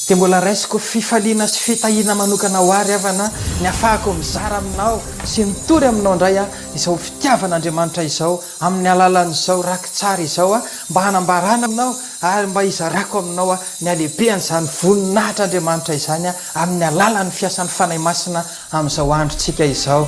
Dia mbola raisiko fifaliana sy fitahiana manokana ho ahy ry havana ny hahafahako mizara aminao sy mitory aminao indray izao fitiavan'Andriamanitra izao amin'ny alalan'izao rakitsary izao mba hanambarana anao ary mba hizarako aminao ny halehibehan'izany voninahitr'Andriamanitra izany amin'ny alalan'ny fiasan'ny Fanahy Masina amin'izao androntsika izao.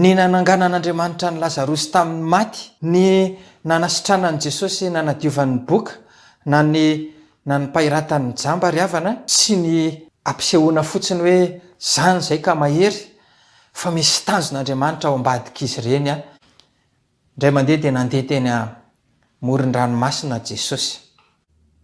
Ny nananganan'Andriamanitra an'i Lazarosy tamin'ny maty. Ny nanasitranan'i Jesosy nanadiovany ny boka na ny nanmpahiratany ny jamba ry havana. Tsy ny ampisehoana fotsiny hoe zany izay ka mahery fa misy tanjon'Andriamanitra ao ambadik'izy ireny an! Indray mandeha dia nandeha teny amoron-dranomasina Jesosy.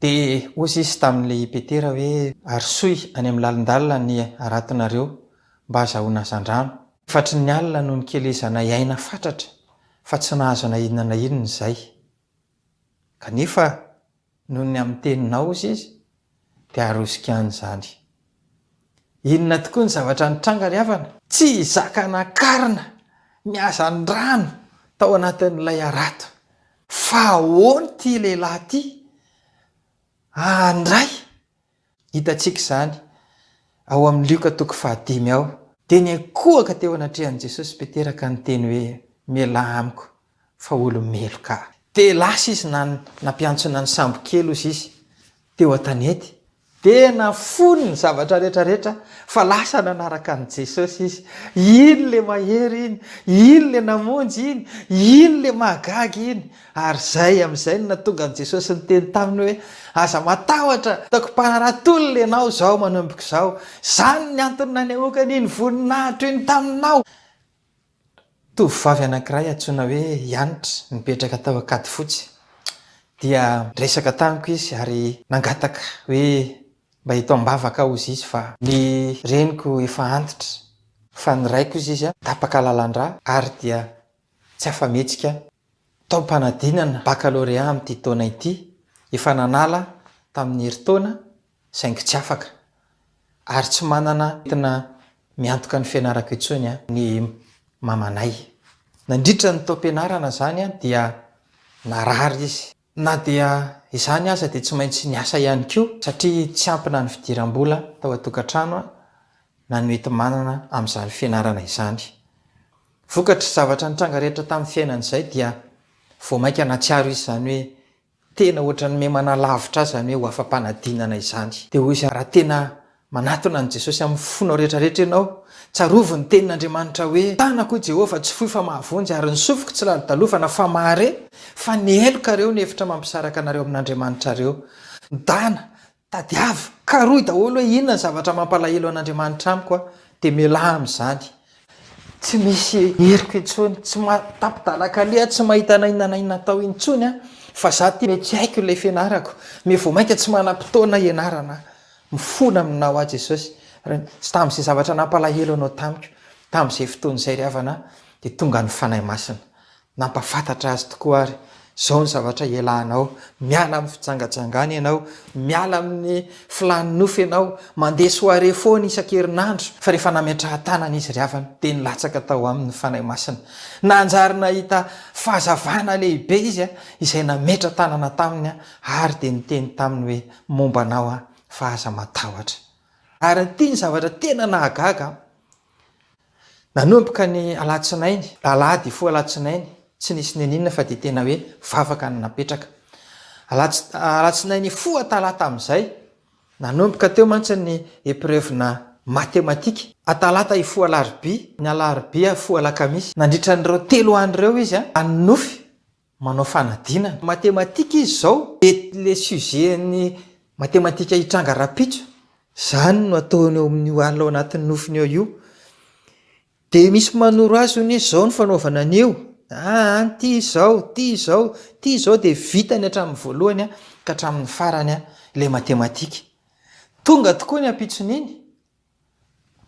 Dia hozy Izy tamin'ilay i Petera hoe, Arosoy any amin'ny lalindalina ny haratonareo, mba hazahoana hazandrano. Fatry ny alina no nikelezanay aina fatratra, fa tsy nahazo na inona na inona izay. Kanefa noho ny amin'ny teny naozy izy dia arosika any izany. Inona tokoa ny zavatra nitranga ry havana? Tsy hizaka nakarina ny hazandrano tao anatin'ilay harato. Fa ahoana ity lehilahy ity handray Hitantsika izany ao amin'ny Lioka toko fahadimy ao. Dia niankohoka teo anatrehan'i Jesosy Petera ka niteny hoe, Mialà amiko, fa olo-meloka aho. Dia lasa izy na nampiantsona ny sambokely hozy izy teo an-tanety. Dia nafony ny zavatra rehetra rehetra fa lasa nanaraka an'i Jesosy izy. Iny ilay mahery iny! Iny ilay namonjy iny! Iny ilay mahagaga iny! Ary izay amin'izay no nahatonga an'i Jesosy niteny taminy hoe, Aza matahotra, ataoko mpanaraha tolona ianao izao manomboka izao. Izany ny antony nanehoako an'iny voninahitro iny taminao. Tovovavy anankiray antsoina hoe Janitra, nipetraka tao Ankadifotsy, dia niresaka tamiko izy ary nangataka hoe mba eto am-bavaka aho hozy izy fa ny reniko efa antitra, fa ny raiko hozy izy tapaka lalandrà ary dia tsy afa-mihetsika. taom-panadinana bakalorea amin'ity taona ity, efa nanala tamin'ny herintaona saingy tsy afaka, ary tsy manana entina miantoka ny fianarako intsony ny mamanay. Nandritra ny taom-pianarana izany dia narary izy. Na dia izany aza dia tsy maintsy niasa ihany koa satria tsy ampy na ny fidiram-bola tao an-tokantrano na ny hoenti-manana amin'izany fianarana izany. Vokatr'izay zavatra nitranga rehetra tamin'ny fiainany izay dia vao mainka nahatsiaro izy izany hoe tena ohatran'ny miha-manalavitra azy izany hoe ho afa-panadinana izany. Dia hoy izy, Raha tena Manatona an'i Jesosy amin'ny fonao rehetra rehetra ianao. Tsarovy ny tenin'Andriamanitra hoe, Ny tanako, hoy Jehovah, tsy fohy fa mahavonjy, ary ny sofiko tsy lalodalofana fa mahare, fa ny heloka ireo ny efitra mampisaraka anareo amin'Andriamanitrareo. Midana, tadiavo, karohy daholo hoe inona ny zavatra mampalahelo an'Andriamanitra amiko aho, dia mialà amin'izany. Tsy misy heriko intsony, tsy mahatapidalak'alli aho, tsy mahita na inona na inona atao intsony aho, fa izaho ity mety tsy haiko ilay fianarako, mety vao mainka tsy manam-potoana hianarana aho. Mifona aminao aho Jesosy ary tsy tamin'izay zavatra nampalahelo anao tamiko tamin'izay fotoana izay ry havana dia tonga ny Fanahy Masina nampafantatra azy tokoa ary izao ny zavatra hialanao miala amin'ny fijangajangana ianao miala amin'ny filàn'ny nofo ianao mandeha soirée foana isan-kerinandro fa rehefa nametrahan-tanana izy ry havana dia nilatsaka tao aminy ny Fanahy Masina nanjary nahita fahazavana lehibe izy izay nametra-tanana taminy ary dia niteny taminy hoe momba anao aho fa aza matahotra. Ary ity ny zavatra tena nahagaga aho, nanomboka ny alatsinainy, alahady hifoha alatsinainy, tsy nisy n'inon'inona fa dia tena hoe vavaka no napetraka. Alatsinainy hifoha talata amin'izay, nanomboka teo mantsy ny epreuve-na matematika, atalata hifoha alarobia, ny alarobia hifoha alakamisy, nandritra an'ireo telo andro ireo izy hanonofy manao fanadinana. Matematika izy izao dia le sujet an'ny matematika hitranga rahampitso, izany no ataony ao amin'io alina ao anatin'ny nofony ao io. Dia misy manoro azy hono hoe izao no fanaovana an'io, ah any ity izao, ity izao, ity izao dia vitany hatramin'ny voalohany ka hatramin'ny farany ilay matematika. Tonga tokoa ny ampitson'iny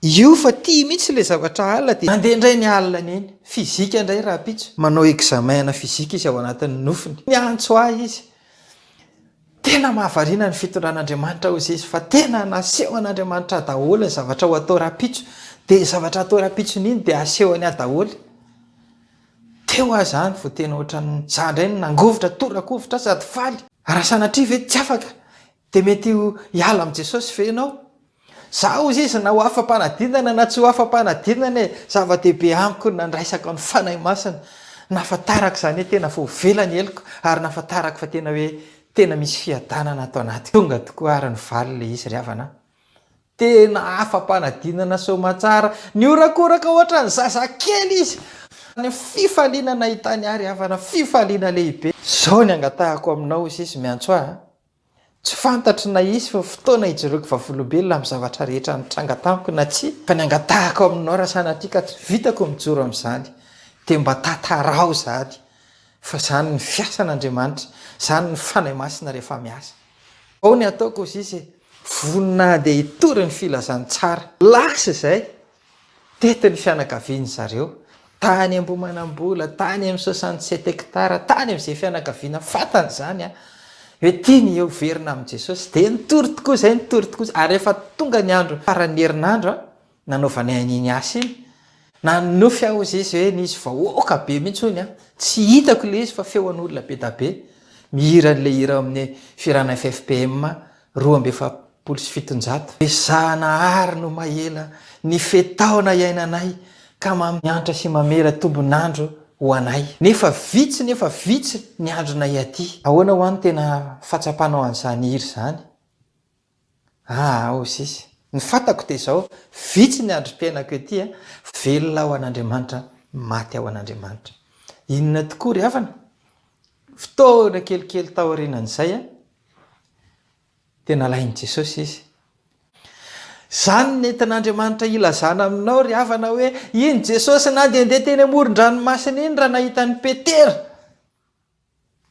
Io fa tia mihitsy ilay zavatra alina dia mandeha indray ny alina any eny. Fizika indray rahampitso. Manao examen ana fizika izy ao anatin'ny nofony. Miantso ahy izy. Tena mahavariana ny fitondran'Andriamanitra hozy izy fa tena nasehon'Andriamanitra daholo ny zavatra ho atao rahampitso dia ny zavatra atao rahampitsony iny dia asehony ahy daholo. Teo aho izany vao tena ohatran'ny za indray no nangovitra, tora-kovitra sady faly. Raha sanatria ve tsy afaka Dia mety ho hiala amin'i Jesosy ve ianao? Za hozy izy na ho afa-panadinana na tsy ho afa-panadinana e! Zava-dehibe amiko ny nandraisako ny Fanahy Masina, nahafantarako izany hoe tena voavela ny heloko ary nahafantarako fa tena hoe tena misy fiadanana ato anatiko. Tonga tokoa ary ny valiny ilay izy ry havana a! Tena afa-panadinana soamantsara, nihorakoraka ohatran'ny zazakely izy. Ny fifaliana nahitany ahy ry havana, fifaliana lehibe. Izao ny angatahako aminao hozy izy, miantso ahy a! Tsy fantatro na hisy ny fotoana hijoroako vavolombelona amin'ny zavatra rehetra nitranga tamiko na tsia, fa ny angatahako aminao raha sanatria ka tsy vitako ny mijoro amin'izany dia mba tantarao izany fa izany ny fiasan'Andriamanitra, izany ny Fanahy Masina rehefa miasa. Ao ny ataoko hozizy e! Vonona dia hitory ny filazantsara. Lasa izay, Tety ny fianakavian'ny zareo, tany Ambohimanambola, tany amin'ny soixante sept hectares, tany amin'izay fianakaviana fantany izany an, hoe tiany heoverina amin'i Jesosy, dia nitory tokoa izay, nitory tokoa izay, ary rehefa tonga ny andro faran'ny herinandro an, nanaovany an'iny asa iny, nanonofy aho hozy izy hoe nisy vahoaka be mihitsy hono an, tsy hitako ilay izy fa feon'olona be dia be, mihira an'ilay hira ao amin'ny Firana FFPM, Roa amby efapolo sy fitonjato. Ezahana àry no maela ny fe-taona iainanay ka mamiantra sy mamela tombon'andro ho anay. Nefa vitsy nefa vitsy ny andronay aty. Ahoana hoa no tena fahatsapanao an'izany hira izany? Aa ô sis, ny fantako dia izao, vitsy ny androm-piainako ety a, velona ao an'Andriamanitra, maty ao an'Andriamanitra. Inona tokoa ry havana? Fotoana kelikely taorianan'izay a, Tena lain'i Jesosy izy. Izany no nentin'Andriamanitra hilazana aminao ry havana hoe, iny Jesosy nandehandeha teny amoron-dranomasina iny raha nahita an'i Petera.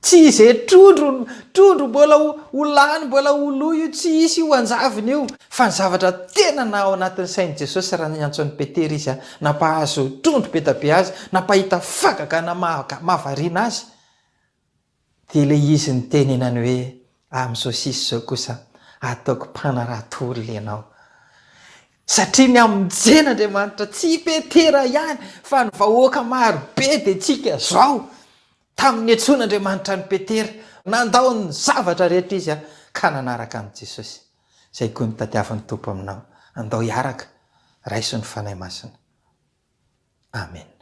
Tsy izay trondro, trondro mbola ho, ho lany, mbola ho lo io, tsy hisy io hanjavona io. Fa ny zavatra tena na ao anatin'ny sain'i Jesosy raha niantso an'i Petera izy an, nampahazo trondro be dia be azy, nampahita fagagana mahavariana azy, Dia ilay izy nitenenany hoe, Amin'izao sisa izao kosa ataoko mpanarato olona ianao. Satria ny amin'ny jean Andriamanitra, tsy i Petera ihany fa ny vahoaka maro be dia tsika izao. Tamin'ny niantsoan' Andriamanitra an'i Petera, nandao ny zavatra rehetra izy ka nanaraka an'i Jesosy. Izay koa no tadiavin'ny Tompo aminao, andao hiaraka, raiso ny Fanahy Masina. Amena.